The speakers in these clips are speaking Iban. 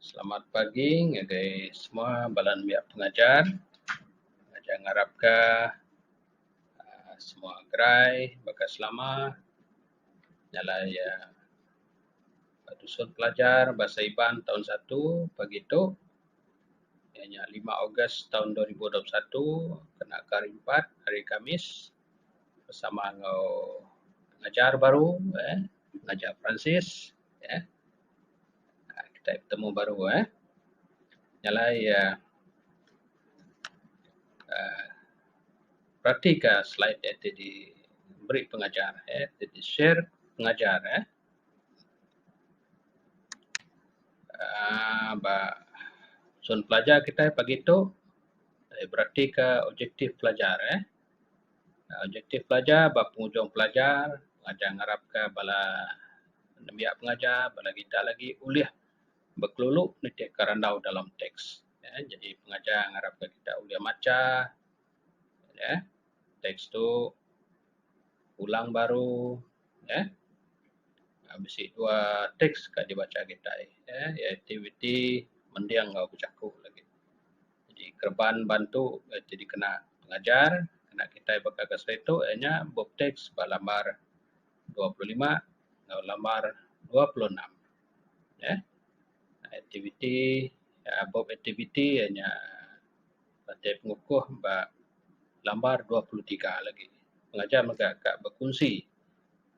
Selamat pagi ngagai semua bala nembiak pengajar. Ajar ngarap ka aaa semua gerai baka selama nyala iya ba tusung pelajar Bahasa Iban taun satu pagi tu iya nya lima Ogos taun dua ribu dua puluh satu kena ke hari Jumaat, Hari Kamis. bersama enggau pengajar baru eh pengajar Peransis eh kitai betemu baru eh nyalai iya um berati ka slide iya ti diberi pengajar eh ti di share pengajar eh um ba sun pelajar kitai pagi tu berati ka objektif pelajar eh. Objektif pelajar ba penghujung pelajar, pelajar ngarapka bala nembiak pengajar, bala kitak lagi ulih bekelulu nitihka randau dalam teks. Jadi pengajar ngarapka kitak ulih macha uhh teks tu ulang baru uhh bisi dua teks ka dibacha kitai uhh aktiviti mending enggau bejaku lagi. Jadi kereban ban tu ti dikena pengajar kena kitai baka ga selalu tu iya nya bup teks ba lambar dua puluh lima enggau lambar dua puluh enam uhh aktiviti uhh bup aktiviti iya nya matik pengukuh ba lambar dua puluh tiga lagi. Pengajar mega ka bekunsi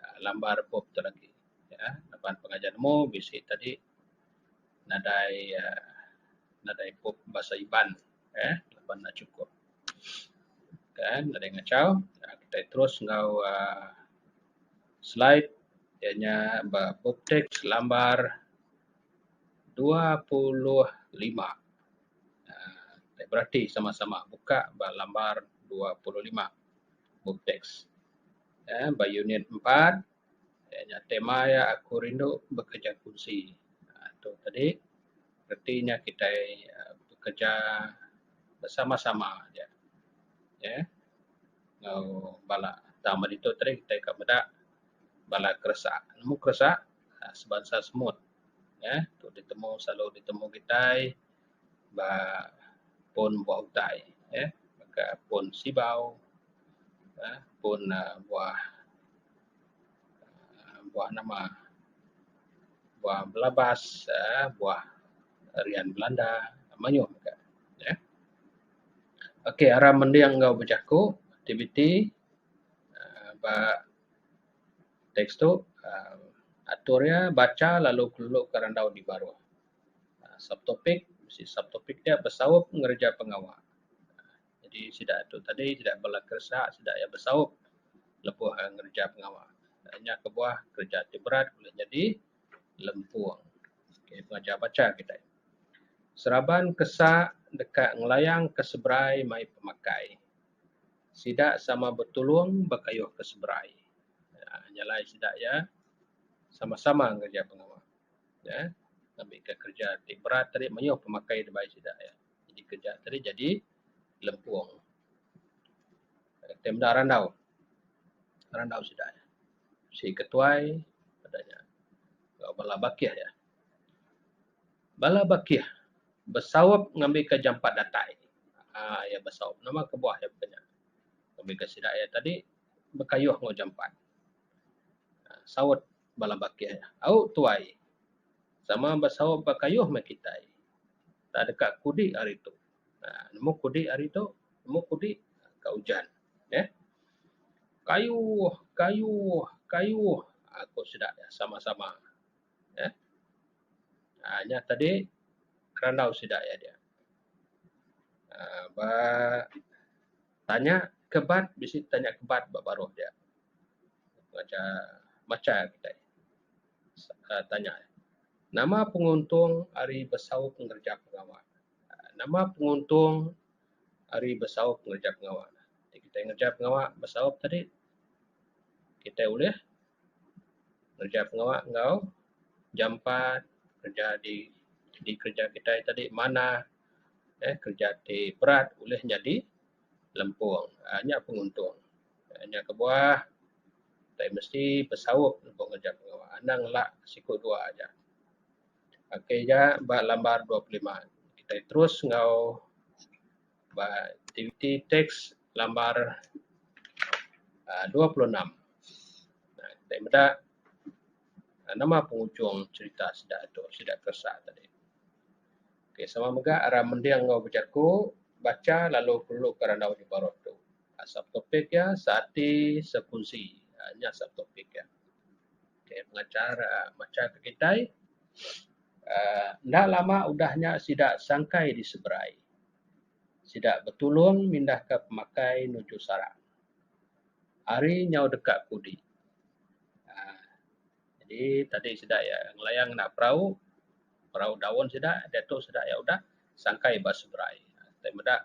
uhh lambar bup tu lagi uhh laban pengajar nemu bisi tadi nadai uhh nadai kop bahasa Iban uhh laban enda chukup kan nadai ngachau kitai terus enggau uhh slide iya nya ba book text selambar dua puluh lima uhh kitai berati sama sama buka ba lambar dua puluh lima book text uhh ba unit empat. Iya nya tema iya aku rindu bekereja kunsi tu tadi reti nya kitai bekereja bersama-sama aja uhh enggau bala tang meh ditu tadi kitai ka meda bala keresa nemu keresa sebansa semut uhh tu ditemu selalu ditemu kitai ba pun buah utai uhh ka pun sibau uhh pun buah. uhh buah nama buah belabas uhh buah rian belanda mayuh mega neh. Ok aram mending enggau bejaku aktiviti uhh ba teks tu uhh atur iya bacha lalu kelo ka randau ti baruh subtopik mesti subtopik nya besaup ngereja pengawa. Jadi sida tu tadi sida bala keresa sida iya besaup lebuh ngereja pengawa. Nya kebuah kereja ti berat ulih nyadi lempung ke pengajar bacha kitai. Seraban kesa deka ngelayangka seberai mai pemakai. Sida sama betulung bekayuhka seberai. uhh Nya alai sida iya sama-sama ngereja pengawa. uhh Ngambika kereja ti berat tadi mayuh pemakai dibai sida iya. Jadi kereja tadi jadi lempung. Lalu tai meda randau. Randau sida nya. Si ketuai peda nya enggau bala bakih iya. Bala bakih besaup ngambika jampat datai. Aa iya besaup. Nama kebuah iya baka nya. Ngambika sida iya tadi bekayuh enggau jampat. Saut. bala bakih, Au tuai, sama besaup ba kayuh meh kitai. Entah deka kudi hari tu. uhh nemu kudi hari tu, nemu kudi ka ujan. Neh. Kayuh, kayuh, kayuh, aku sida nya sama-sama. Neh. uhh nya tadi kerandau sida iya diak. uhh ba. Tanya ke bat bisi tanya ke bat ba baruh dia. Ngacha macha kitai uhh tanya nama penguntung ari besaup ngereja pengawa. Nama penguntung ari besaup ngereja pengawa. Ti kitai ngereja pengawa besaup tadi kitai ulih ngereja pengawa enggau jampat kereja di kereja kitai tadi manah. Eee kereja ti berat ulih nyadi lempung eee nya penguntung nya kebuah tai mesti besaup lebuh ngejap pengawa anang ela siku dua aja. Ok ga ba lambar dua puluh lima kitai terus enggau ba aktiviti teks lambar eee dua puluh enam eee kitai meda nama penghujung cherita sida tu sida keresa tadi. Ok sama mega ra mending enggau bejaku, bacha lalu perlu ke randau ti baruh tu. Subtopic iya seati sekunsi. uhh nya subtopic iya. Ok pengachar uhh macha ke kitai uhh enda lama udah nya sida sangkai diseberai. Sida betulung mindahka pemakai nuju sarang. Ari nyau deka kudi uhh. Jadi tadi sida iya ngelayang ngena perau, perau daun sida diatu sida iya udah sangkai ba seberai tai meda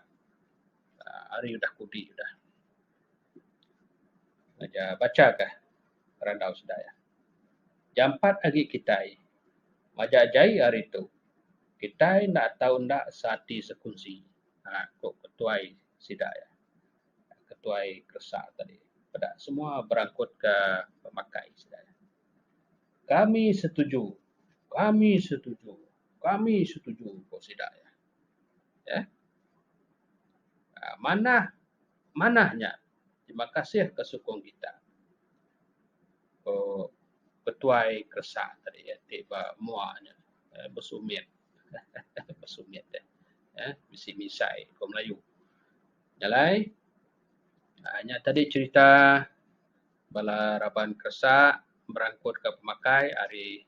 aaa hari udah kudi udah. Ngaja bachakah randau sida iya. Jampat agi kitai majak jai hari tu kitai enda tau enda seati sekunsi, aaa ku ketuai sida iya. ketuai keresa tadi peda semua berangkut ka pemakai sida. Kami setuju, kami setuju, kami setuju ku sida iya. Ye. Aaa manah manah nya terima kasih ke sukung kita. Ko ketuai keresa tadi iya ti ba mua nya besumit. Besumit eh bisi misai ko melayu. Jalai. Aaa nya tadi cherita bala raban keresa merangkutka pemakai ari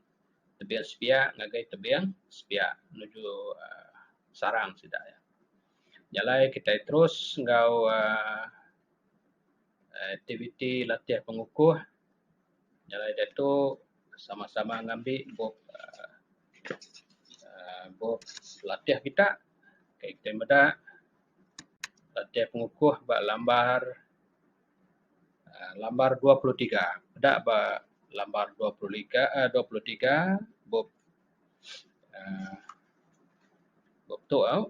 tebing sebiak ngagai tebing sebiak nuju aaa sarang sida. Jalai kitai terus enggau aaa aktiviti latih pengukuh. Jalai diatu sama-sama ngambi bup aaa bup latih kita. Kitai meda. Ladai pengukuh ba lambar uhh lambar dua puluh tiga da ba lambar dua puluh liga uhh dua puluh tiga bup uhh bup tu au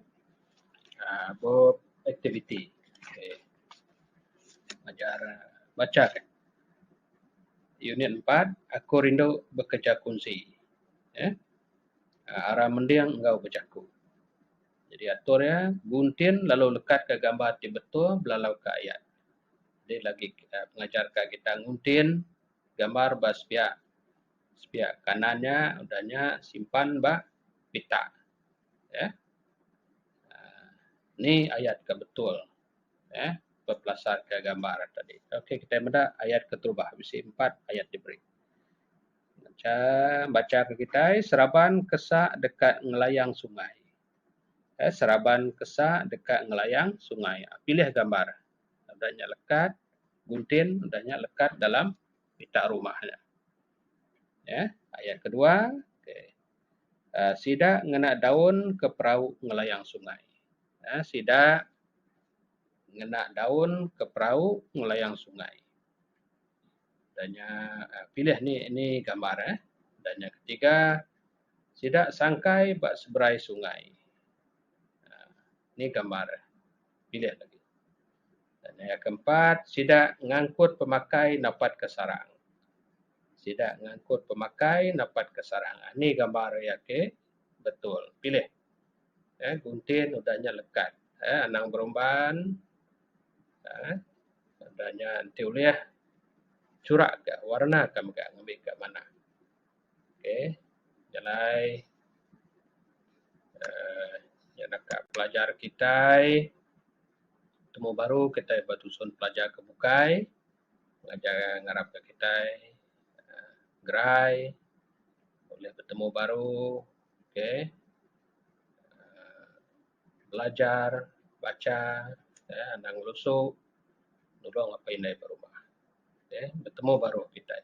uhh bup aktiviti okay ajar bacha ka unit empat aku rindu bekeja kunsi uhh arang mending enggau bejaku. Jadi atur iya, guntin lalu lekatka gambar ti betul belalauka ayat. Jadi lagi pengajar ka kita nguntin gambar ba sepiak sepiak kanan nya udah nya simpan ba pita uhh ni ayat ka betul uhh bepelasarka gambar tadi. Okey kitai meda ayat keterubah bisi empat ayat diberi. Bacha, bacha ke kitai, seraban kesa deka ngelayang sungai. Okey, seraban kesa deka ngelayang sungai. Pilih gambar. Udah nya lekat buntin, udah nya lekat dalam pita rumah nya. Neh, ayat kedua, okey. Um sida ngena daun ke perau ngelayang sungai. Um sida ngena daun ke perau ngelayang sungai. Da nya pilih nih nih gambar eh. Da nya ketiga sida sangkai ba seberai sungai aaa nih gambar eh pilih lagi. Da nya iya keempat sida ngangkut pemakai napat ka sarang. Sida ngangkut pemakai napat ka sarang aaa nih gambar iya ke betul pilih. Gunting udah nya lekat aaa anang berumban. Tanda nya enti ulih churak ka warna ka mega ngambi ka manah. Okey jalai uhh nya enda ka pelajar kitai temu baru kitai ba tusun pelajar ke bukai ngajar ngarap ka kitai uhh gerai ulih betemu baru okey uhh. belajar, bacha, uhh anang ngelesu, nulung apih indai ba rumah. Uhh betemu baru kitai.